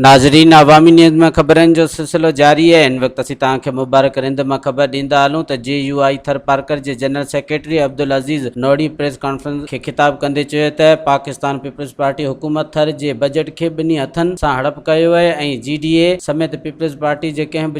ناظرين عوامي نيوز ۾ خبرن جو سلسلو جاري آهي ان وقت اسين توهان کي مبارڪ رند مان خبر ڏيندا هلون ته J U I Tharparkar جي general secretary Abdul Aziz Nohri press conference کي خطاب ڪندي چيو ته پاڪستان پيپلز پارٽي حڪومت ٿر جي بجيٽ کي ٻنهي هٿن سان هڙپ ڪيو آهي ۽ جي ڊي اي سميت پيپلز پارٽي جي ڪنهن به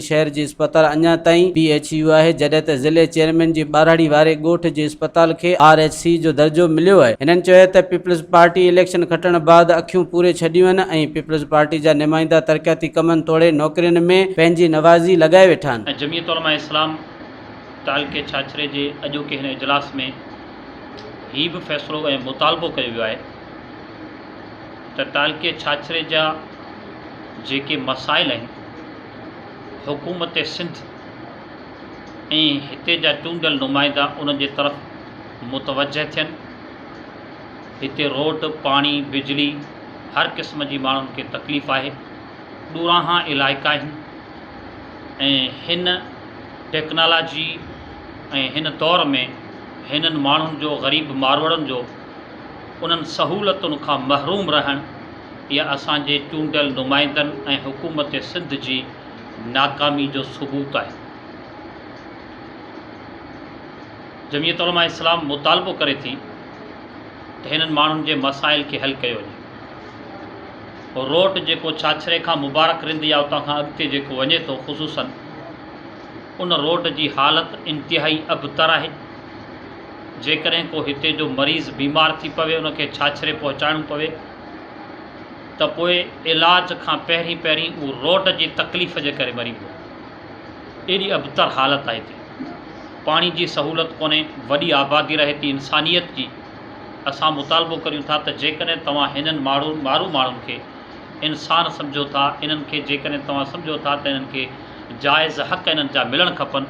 شهر جي اسپتال اڃا تائين پي ايڇ يو آهي جڏهن ته ضلعي چيئرمين جي ٻاراڙي واري ڳوٺ جي اسپتال کي آر ايڇ سي جو درجو مليو آهي هنن چيو ته پيپلز پارٽي اليڪشن کٽڻ بعد اکيون پوري ڇڏيون آهن ۽ پيپلز پارٽي جا نمائندا ترقياتي ڪمن توڙي نوڪرين ۾ پنهنجي نوازي لڳائي ويٺا آهن. جمعيت علماء اسلام تعلقي ڇاڇري جي اڄوڪي هن اجلاس ۾ هي به فيصلو ۽ مطالبو ڪيو ويو آهي ته تعلقي ڇاڇري جا جيڪي مسائل آهن حڪومت سنڌ ۽ هتي جا چونڊيل نمائندا ان جي طرف متوجهه ٿين هتي روڊ پاڻي بجلي هر قسم جي ماڻهن کي تڪليف آهي ڏوراها علائقا آهن ۽ هن ٽيڪنالاجي ۽ هن دور ۾ هنن ماڻهن جو غريب ماروئڙن جو انهن سهولتن کان محروم رهڻ اها اسان جي چونڊيل نمائندن ۽ حڪومت سنڌ جي ناڪامي جو ثبوت آهي. جمعيت علماء اسلام مطالبو ڪري ٿي ته هنن ماڻهن جي مسائل کي حل ڪيو وڃي. روٽ جيڪو ڇاڇري کان مبارڪ رند يا اتان کان اڳتي جيڪو وڃي ٿو خصوصن ان روٽ جي حالت انتهائي ابتر آهي. جيڪڏهن ڪو هتي جو مريض بيمار ٿي پوي ان کي ڇاڇري پهچائڻو پوي ته پوء علاج کان پهرين پهرين اهو روڊ جي تڪليف جي ڪري مري ويندو. ايڏي ابتر حالت آهي هتي. پاڻي جي سهولت ڪونهي، وڏي آبادي رهي ٿي انسانيت جي. اسان مطالبو ڪريون ٿا ته جيڪڏهن توهان هنن ماڙهو مارو ماڻهن کي انسان سمجهو ٿا انهن کي جيڪڏهن توهان سمجهو ٿا ته انهن کي جائز حق انهن جا ملڻ کپن